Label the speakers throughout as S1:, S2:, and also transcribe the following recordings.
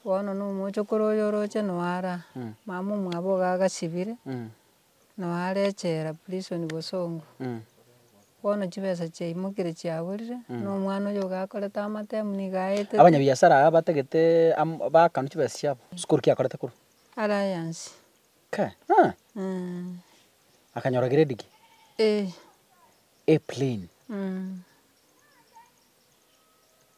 S1: Bono na omochokoro oyo oroche noara, mama omwabo iga agasibire, noara echela, prison bosongo, bono chibesa chiaimokeire chiaborire, na omwana oyo iga akorete amatemu nigo aeteti. Abanyabiasara aya batagete
S2: am- baakanu chibesa chiabo, sikori ki akorete korwa? Alliance.
S1: Kai, ah!
S2: Akanyora grade ki? A. A plain.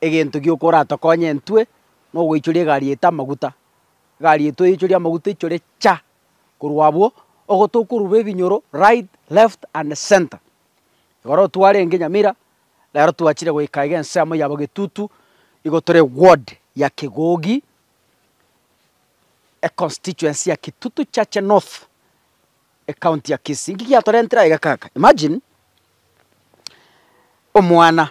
S2: Egento gioka oratokonye intwe nogoichoria egari yaito amaguta. Egari yaito oichorie amaguta oichore cha! Korwa abwo ogo tokorurwa ebinyoro right, left and centre. Igoro otwarenge Nyamira, nero twachire goika iga ensemo ya Bogetutu, nigo tore ward ya Kegogi, econstituency ya Kitutu Chache North, ecounty ya Kisii. Nki giatorentire aiga kaka? Imagine, omwana.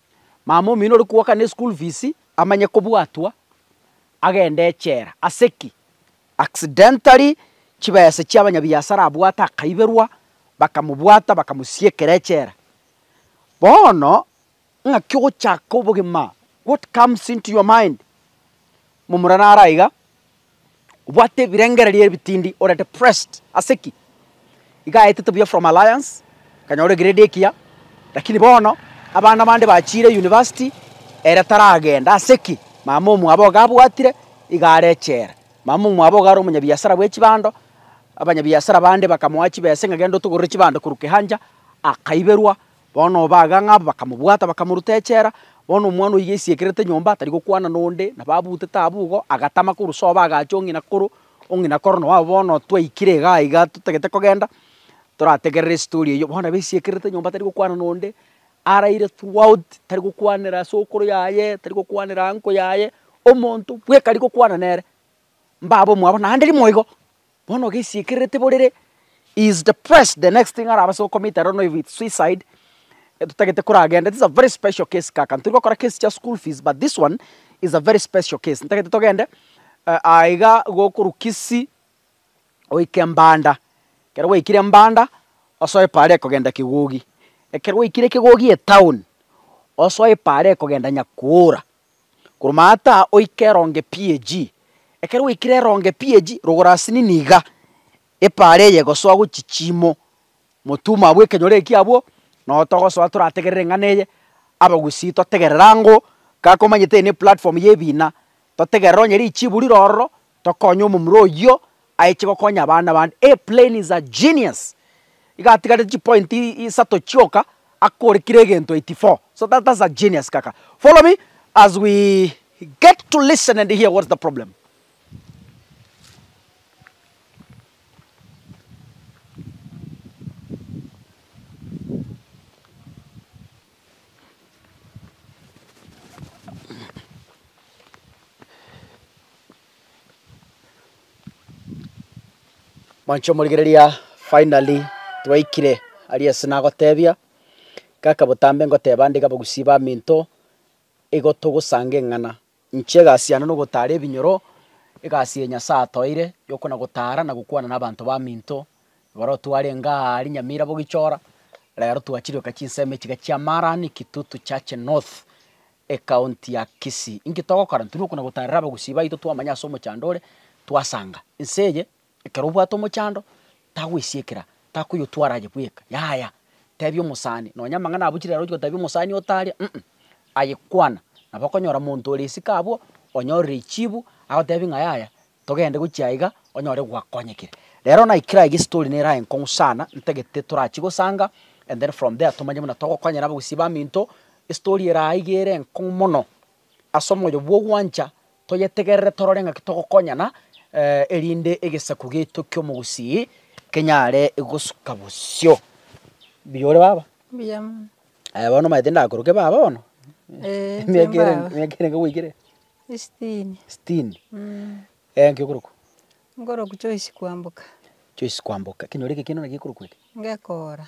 S2: Mama omino ore kwoka ne school fees amanye kobwatwa agende echela. Ase ki? Accidentally chibese chia abanyabiasara abwate akaiberwa bakamobwata bakamosiekera echela. Bono ng'aki ogochaka obogima what comes into your mind? Momura naro aiga, obwate ebirengererio ebitindi, ore depressed. Ase ki? Iga aetete buya from Alliance, akanyora egrade ekiya, lakini bono abana bande bachiire university, ere taragenda. Ase ki? Mama omwabo iga abwatire, iga are echela. Mama omwabo iga are omonyabiasara bwe chibando, abanyabiasara bande bakamoa chibesa ng'a genda otogorere chibando korwa Kihancha, akaiberwa, Bono obaga ng'a aba bakamobwata, bakamoruta echela. Bono omwana oyio gaisiekerete nyomba, tari gokwana nonde, nabo abutete abwo igo, agatama korwa sobo agacha ong'ina korwa ong'ina korono wabo. Bono twaikire igaa iga totagete kogenda, torategerere estori eyio. Bono nabo aisiekerete nyomba tari gokwana nonde, araire throughout, tari gokwanera as'okoro yaye, tari gokwanera uncle yaye, omonto bweka ari gokwana nere. mbabe omwabo naende rimo igo, bono gesiekererete borere he is depressed the next thing arabe ase okomit I don't know if it's suicide totagete koragende this is a very special case kaka ntori gokora case chia school fees but this one is a very special case ntagete togende aah iga igo okorwa Kisii oike Mbanda ekero gwaikire Mbanda osoe paara ekogenda Kigogi ekero gwaikire Kigogi etown osoe paara ekogenda Nyakoora. Koroma ata oike eronge PAG. Ekero gwaikire eronge PAG, rogora asini niga epaara eye egosoa gochia chiimo. Motumo abwo ekenyoro ekio abwo, noo togosoa torategerere eng'ana eye, abagusii totegerere angoo, kakomanyete eye neplatform ya ebina, totegerere onye richiibu rire ororo, tokonye omomura oyio aeche gokonya abana bande. He plain is a genius. Iga atigarete chipoint isato chioka akorekire egento 84. So that that's a genius kaka. Follow me as we get to listen and hear what's the problem. Mwancha omorigereria finally twaikire aria ase nagotebia, kaka botambe ngoteba nde abagusii baminto, igo togosanga eng'ana. Inche egasi yane nogotaara ebinyoro, egasi eye Nyasae atoeire y'okona-gotaara na gokwana nabaanto baminto. Ekero twarenge aa aria Nyamira bogichora, rero twachiroka chinsemo echiga chia Marani, Kitutu, Chache North, ecounty ya Kisii. Inki togokora? Ntiri okona-gotaarera abagusii baito twamanya ase omochando ore, twasanga. Ense eye Ekero obwate omochando, tagoisiekera, takoyotwara aye bweka, yaya, tebia omosani, nonya amang'ana abo chire aroche gotebia omosani otaria, um, aye kwana, nabo okonyora monto ore isiko abwo, onyorire echibu, agotebie ng'a yaya, togende gochia aiga, onyore gwakonyekire. Rero naikire aiga estory nere aye nkong'u sana, ntagete torachie gosanga, and then from there tomanye buna togokonyera abagusii baminto, estory ere aiga ere enkong'u mono, ase omoyo bwa ogwancha, Toyetegerere torore ng'aki togokonyana erinde egesaku giaito ki'omogusii kenyare gosuka bosio. Mbuya ore baba? Mbuya mono.
S1: Aya bono omanyete
S2: ndakoroke baba bono? Eeh, inche Emiaka ere- mbaba. emiaka erenge goika ere? Esitini.
S1: Sitini?
S2: Eeh, nki okorokwa?
S1: Nkorokwa Joyce Kwamboka. Joyce Kwamboka.
S2: Ekenyoro eke ekiano naki ekorokwa eke? Ngekora.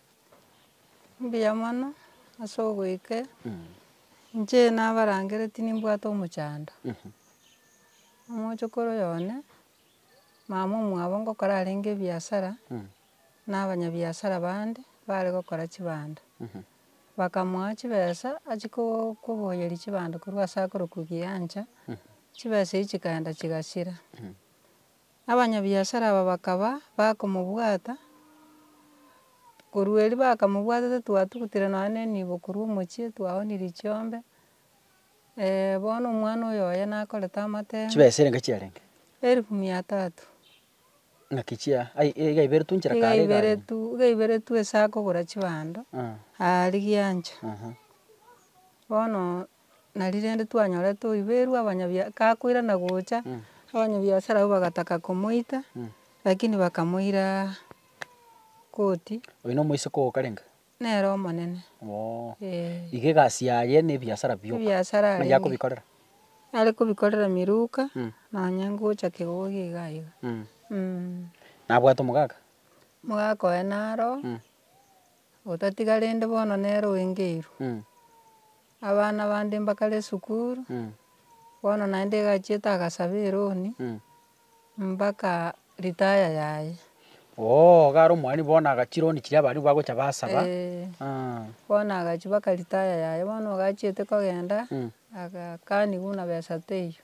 S2: Mbuya mono
S1: ase ogoika, inche nabarangere tinibwate omochando, omochokoro oyo one, mama omwabo ngokora arenge ebiasara, na abanyabiasara bande bare gokora chibando, bakamoa chibesa achie ko- koboyeria chibando korwa ase akorokwa Kigancha, chibesa echi chikaenda chigasira. Abanyabiasara aba bakaba bakomobwata, korwa erio bakamobwatete twatugutire nonya na enibo korwa omochie twaonirie chiombe, bono omwana oyo oye nakorete amatemo. Chibesa erenga chiarenge?
S2: Erifu mia tatu. Naki chia ai iga iberetwe nchera kare iga iga iberetwe iga iberetwe
S1: ase akogora chibando, aarigia ncho. Bono. nari rende twanyorete oiberwa abanyabia gakoirana gocha, abanyabiasara abwo bagataka komoita, lakini bakamoira koti, Oyo na omoiseke
S2: oo okarenge? nere omonene,
S1: Oo. eh.
S2: Iga egasi yaye na ebiasara bioka. Ebiasara Naki arenge. akobikorera. Are
S1: kobikorera Miluka, Mm. nonye ngocha Kegogi iga iga. Mm. Mm.
S2: Nabwate omogaka? Omogaka oye
S1: naro, Mm. Otatiga rende bono nere oengeirwe. Abana bande mbakare esukuru, bono naende egachiete agasaba eroni, mbaka retire yaye. Oo iga
S2: are omwani bono aga chironi chiria baria nigo bagocha basaba. Eeh. Aah.
S1: Bono agachia baka retire yaye, bono ogachiete kogenda, agakani buna besa teiyo.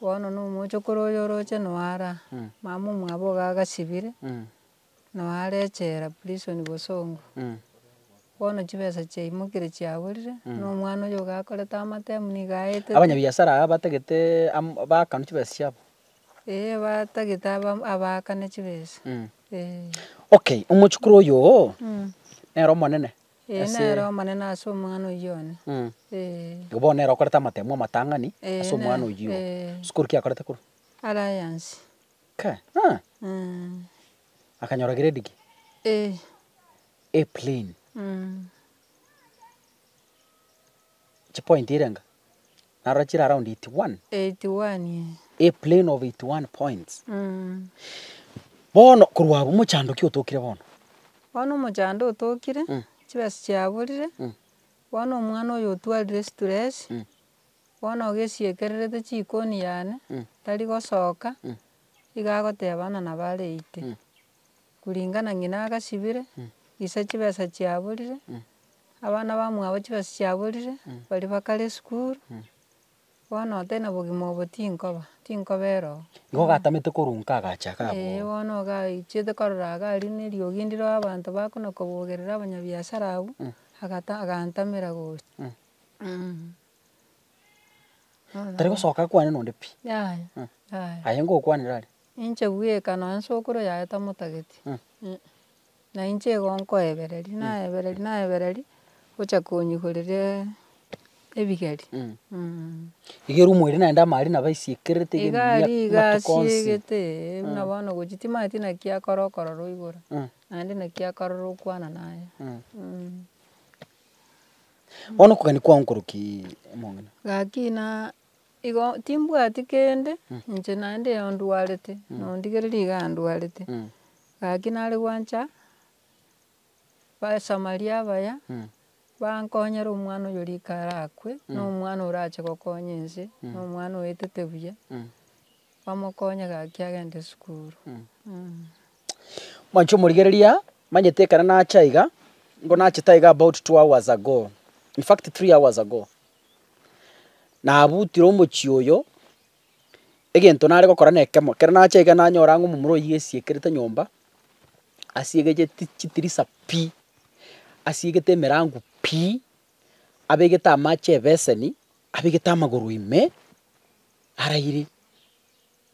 S1: Bono na omochokoro oyo oroche noo araa. Mama omwabo iga agasibire, Noe are echela, prison, bosongo, bono chibesa chiaimokeire chiaborire, buna omwana oyo iga akorete amatemu nigo aetete. Abanyabiasara aba batagete
S2: am- baakanu chibesa chiabo. Eeh batagete
S1: abam- abaakane chibesa, eeh.
S2: Okay, omochukuru oyoo, nere omonene? Eeh ase- nere omonene
S1: ase omwana oyio one, eeh. Igo
S2: bono nere okorete amatemu amatang'ani, Eeh, ase omwana nere, oyio, eeh. Sukuru ki akorete korwa? Alliance.
S1: Ka, ha,
S2: Mm. akanyora grade ki? Eh. A plain. Mm. Chipoint ere enga? Narora chire around 81. 81 ye. A plain of 81 points. Mm. Bono korwa abwo mochando ki otokire bono? Bono omochando otokire,
S1: Mm. chibesa chiaborire, Mm. bono omwana oyo otwarire stress, Mm. Bono ogesiekererete chikoni yane, tari gosoka, iga agoteba bana nabo areite, kuringana ng'ina agasibire, gisa chibesa chiaborire, abana bamwabo chibesa chiaborire, baria bakare esukuru, bono otari na obogima obo tinkoba, tinkoba eroo. Igo ogatamete korwa
S2: nka agacha iga abwo. Eeh bono ogaichete
S1: korora iga aria ne eriogi ndire abanto bakona kobogerera abanyabiasara abwo, agata agantamera gocha.
S2: Tari gosoka kwane nonde pi. Yaya, yaya. Aye ngokwanera are. Inche bweka nonye
S1: sokoro yaye tamotageti. Na inche igo nkoebereria, naebereria, naebereria, gocha konyigorera ebigeri.
S2: Iga erumo ere naende amari nabo aisiekerete iga Iga aria iga amatuko
S1: onsi. asiegete ee, buna bono gochia timanyeti naki akore okorora oigoro, naende naki akarora okwana naye.
S2: Bono okogania kwao nkoroki omong'ina? Gaki na
S1: igo timbwati kende, inche naende igo ndwarete, nondigereri iga ndwarete. Gaki nare gwancha, abasamaria abaya, bankonyera omwana oyo rika arakwe, na omwana orache gokonya ense, na omwana oetete buya, bamokonye gaki agende esukuru.
S2: Mwanche omorigereria, manyete ekero nacha iga, nigo nachete iga about two hours ago, in fact three hours ago, nabutire omochie oyo, egento nare gokora na ekemo, ekero nacha iga nanyora ng'a omomura oyio esiekerete nyomba, asiegecheti chitirisa pi, asiegete emerango pi, abegete amache ebeseni, abegete amagoro ime, araire.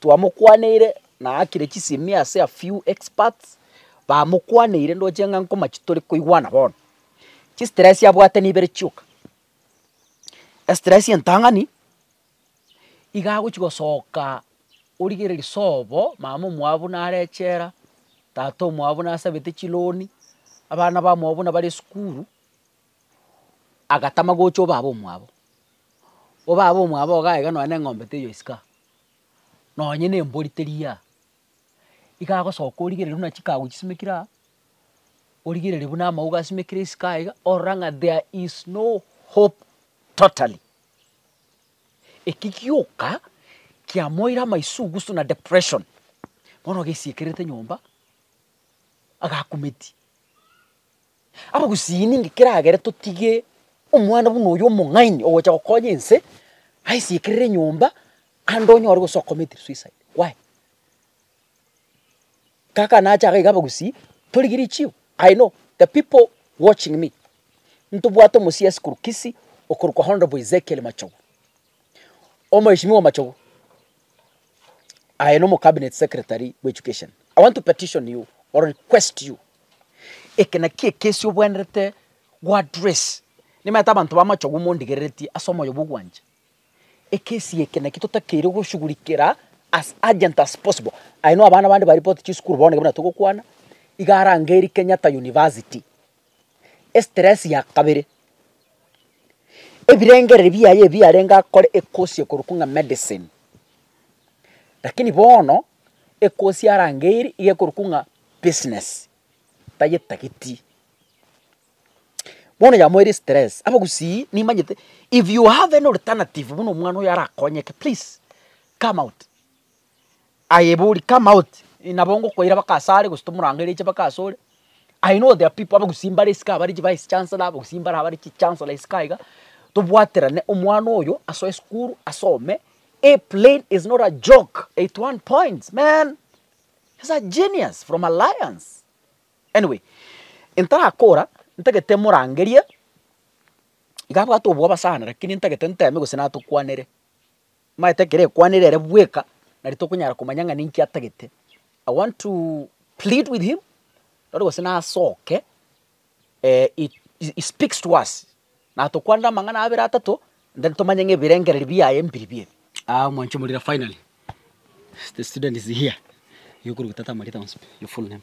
S2: Twamokwaneire na aakire chisemi ase a few experts bamokwaneire ndoche ng'a nkoma chitore koigwana bono. Chistress abwate nibere chioka, estress entang'ani iga agochia gosoka origereria sobo mama omwabo nare echela, tata omwabo nasabete chiloni, abana bamwabo buna bare esukuru, agatama gocha obaba omwabo, obaba omwabo iga aiga nonye na eng'ombe teiyo isiko aa, nonye na embori teria aa, iga agosoka origereri buna chikago chisimekire aa, origereri buna amauga asimekire isiko aa iga, orora ng'a there is no hope totally. Eki gioka kiamoire amaisugusu na depression, bono ogesiekerete nyomba, agakumeti. Abagusii ninki keragere totige omwana buna oyo omong'aini ogocha gokonya ense, aisiekerere enyomba, ande onyore gose ocommit suicide? Why? Kaka nache iga abagusii, torigie richiho, I know the people watching me, ntobwate omosia esikuru Kisii okorokwa Hon. Ezekiel Machogu. Omweshimiwa Omachogu, aye na omocabinet secretary bw'education, I want to petition you or request you, eke naki ekesi obwenerete go address, nimanyete abanto ba Amachogu mondigereretie ase omoyo bw'ogwancha, ekesi eke naki totakeire goshugurikera as urgent as possible, aye na abana bande baripoti chisukuru bono ekero buna togokwana, iga arangerie Kenyatta University. estress ya kabere, ebirengereri biaye ebi arenge akore ekosia korwa kung'a medicine, lakini bono ekosia arangeirie iga ekorwa kung'a business tayetageti. Bono yamoeire estress, abagusii nimanyete if you have any alternative buna omwana oyo arakonyeke please come out. Aye bori come out, nabo ngokoira baka ase are gose tomorangeire aiche baka ase ore, I know there are people abagusii mbare isiko abare chivice chancellor, abagusii mbare abare chichancellor isiko aiga, tobwaterane omwana oyo asoe esukuru asome, A plain is not a joke, eighty one points man, he's a genius from Alliance. Anyway, ntarakora ntagete morangerie, iga abwate oboaba sana lakini ntagete nteme gose natokwanere, Maete ekero ekwanire ere bweka, nari tokonyara komanya ng'a ninki atagete, I want to plead with him, nari gose nasoke he he speaks to us, natokwanere amang'ana abere atato, then tomanye ng'a ebirengereri biaye mbiribi ebi. Aah omwancho omorire finally, the student is here, igo okoruta tata Marita onsi pi, your full name.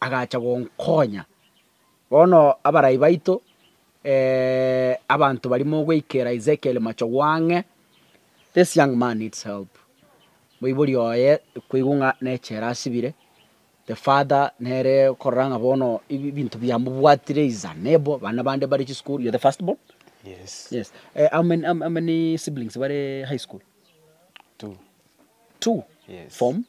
S2: agacha gonkonya. Bono abarai baito, abanto baria mogoikera Ezekiel machogu ang'e, this young man needs help, moibori oye kweigwa ng'a nechela asibire, the father nere okorora ng'a bono ebi ebinto biamobwatire, he is unable, bana bande mbare chisukuru, you are the first born? Yes.
S3: Yes. Eh, how many,
S2: how many siblings bare high school? Two. Two? Yes. Form?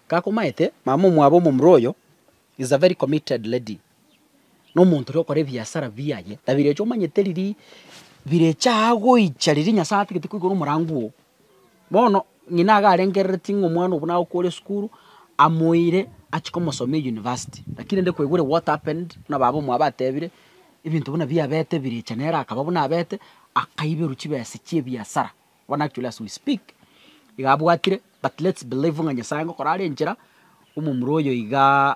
S2: Gakomaete mama omwabo omomura oyo is a very committed lady na omonto oria okora ebiasara biaye na birecha omanyete riria birecha aa goicha riria nyasae atagete koigora omorango oo. Bono ng'ina iga arengereretie ng'a omwana obo naye okore esukuru, amoeire achie komosomia eyunivasiti. Lakini rende kwaigwere what happened, buna baba omwabo batebire, ebinto buna biabete ebirecha nere akaba buna abete, akaiberwa chibesa chia ebiasara. Bono actually as we speak, iga abwatire but let's believe ng'a Nyasaye ngokora are enchera, omomura oyo igaaa.